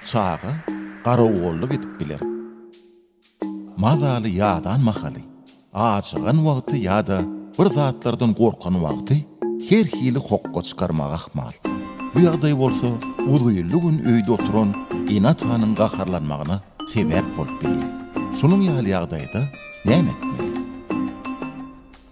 Çaga garagolluk edip biler. Mazaly ýadan mahaly, ajygan wagty ýa-da bir zatlardan gorkan wagty her hili hokga çykarmagy ahmal. Bu ýagdaý bolsa uzynly gün öýde oturan ene-atanyň gaharlanmagyna sebäp bolup bilýär. Şunuň ýaly ýagdaýda näme etmeli?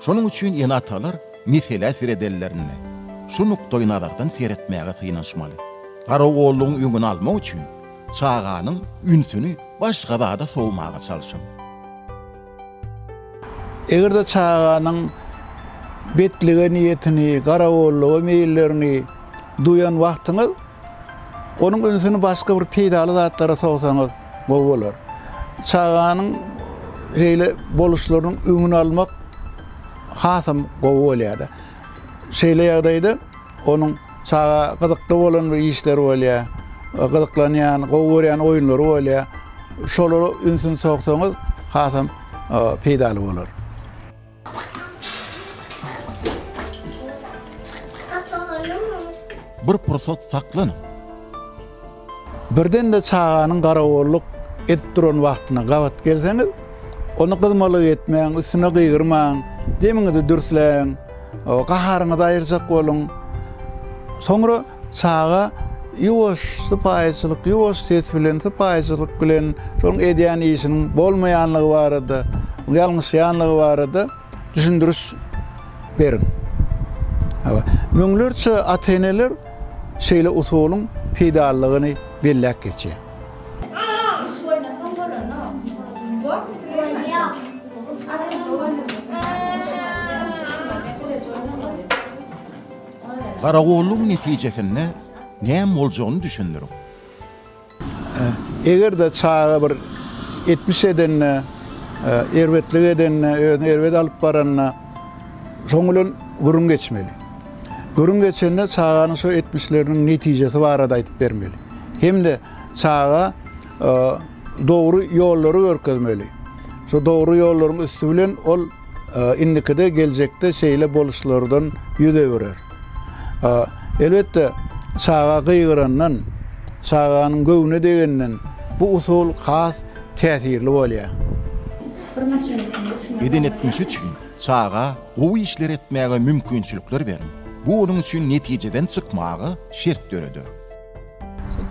Şonuň üçin ene-atalar meselä seredenlerinde, şu nukdaýnazardan seretmäge synanyşmaly. Garawullygyň öňüni almak üçin çaganyň ünsüni başga zada sowmaga çalşyň. Eger-de çaganyň betlige niýetini, garawullyga meýillerini duýan wagtyňyz, onuň ünsüni başga bir peýdaly zatlara sowsaňyz, Gowy bolar. Çaganyň şeýle boluşlarynyň öňüni almak hasam gowy bolýar-da. Şeýle ýagdaýda onuň çaga gyzykly bolan bir işleri bolýar, gyzyklanýan, gowy görýän oýunlary bolýar. Şolara ünsüni soksaňyz, hasam peýdaly bolar. Bir pursat saklanyň. Birden-de çaganyň garagolluk edip duran wagtyna gabat gelseňiz, ony gyzmalyk etmäň, üstüne gygyrmaň, demiňizi dürsläň, gaharyňyzy aýyrjak boluň. Soňra. Çaga ýuwaş sypaýyçylyk, ýuwaş ses bilen, sypaýyçylyk bilen şoň edýän işiniň bolmaýanlygy barada, ýalňyşýanlygy barada düşündiriş beriň. Hawa, müňlerçe ata-eneler şeýle usulyň peýdalylygyny belläp geçýär. Garagollugyň netijesinde näme boljagyny düşündiriň. Eger-de çaga bir etmiş edende, erbetlik edende, özüni erbet alyp baranda, şoň bilen gürrüň geçmeli. Gürrüň geçende çaganyň şo etmişleriniň netijesi barada aýdyp bermeli. Hem-de çaga dogry ýollary görkezmeli. Şo dogry ýollaryň üsti bilen ol. Indikide, geljekde şeýle boluşlardan ýüz öwürer. Elbetde, çaga gygyrandan, çaganyň göwnüne degenden bu usul has täsirli bolýar. Beden etmişi üçin çaga gowy işler etmäge mümkinçilikler beriň. Bu onuň üçin netijeden çykmaga şert döreder.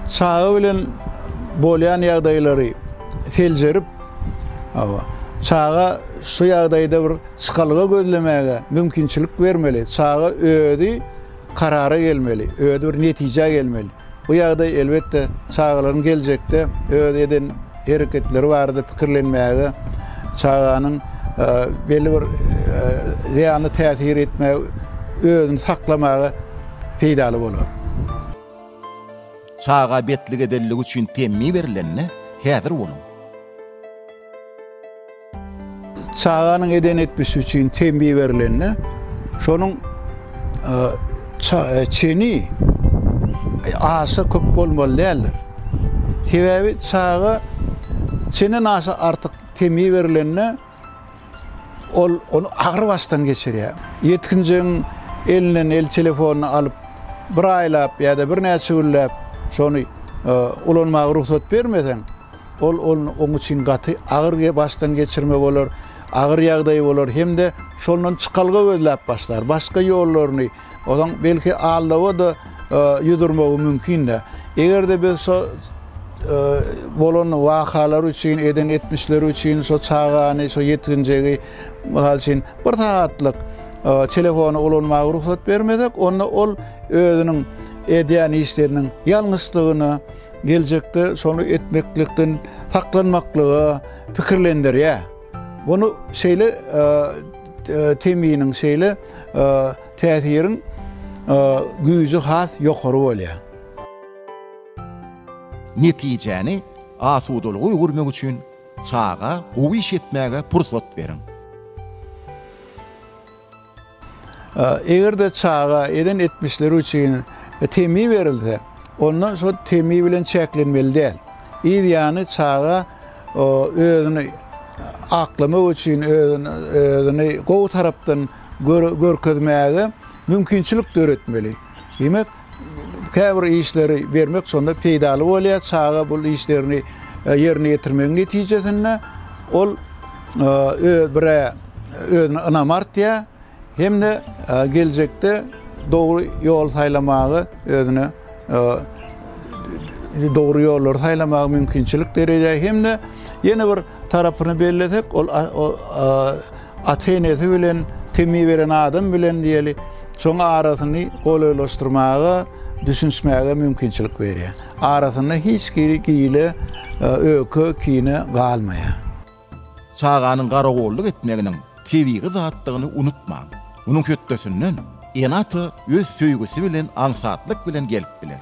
Çaga bilen bolýan ýagdaýlary seljerip, hawa, çaga şu ýagdaýda bir çykalga gözlemäge mümkinçilik bermeli. Çaga özi karara gelmeli, özi bir netijä gelmeli. Bu ýagdaý elbetde çagalaryň geljekde öz eden hereketleri barada pikirlenmäge, çaganyň belli bir zyýanly täsir etmäge özüni saklamaga peýdaly bolar. Çaga betlik edenligi üçin temmi berilende häzir boluň. Çaganyň eden etmişi üçin tembi berilende, şonuň çeni aşa köp bolmaly däldir. Sebäbi çaga çenden aşa artyk tembi berilende, ol ony agyr başdan geçirýär. Ýetginjegiň elinden el telefonyny alyp, bir aýlap ýa-da birnäçe günläp şony ulanmaga rugsat bermeseň, Ol ony oň üçin gaty agyr başdan geçirme bolar, agyr ýagdaý bolar hem-de şondan çykalga gözläp başlar. Başga ýollaryny, ozaň belki aldawa-da ýüz urmagy mümkin-dä. Eger-de biz şo bolan wakalary üçin, eden etmişleri üçin şo çagany, şo ýetginjegi, mysal üçin, bir sagatlyk telefony ulanmaga rugsat bermesek, onda ol özüniň edýän işleriniň ýalňyşdygyna, geljekde şony etmeklikden saklanmaklyga pikirlendirýär. Bunu şeýle teminiň, şeýle täsiriň güýji has ýokary bolýar. Netijäni asudalyga öwürmek üçin çaga gowy iş etmäge pursat beriň. Eger-de çaga eden etmişleri üçin temmi berilse, onda şol temmi bilen çäklenmeli däl. Yz ýany çaga özüni aklamak üçin, özüni gowy tarapdan görkezmäge mümkinçilik döretmeli. Diýmek, käbir işleri bermek şonda peýdaly bolýar. Çaga bu işlerini e, ýerine ýetirmegiň netijesinde ol e, öz birä özüne ynam artýar hem-de e, geljekde dogry ýol saýlamagy özüne dogry ýollary saýlamagy mümkinçilik derýär hem-de ýene bir tarapyny bellesek, ol ata-enesi bilen temmi beren adam bilen diýeli, şoň arasyny golaýlaşdyrmaga, düşünişmäge mümkinçilik berýär. Arasynda hiç hili gile, öke, kine galmaýar. Çaganyň garagolluk etmeginiň tebigy zatdygyny unutmaň. Munuň hötdesinden ene-ata öz söýgüsi bilen aňsatlyk bilen gelip biler.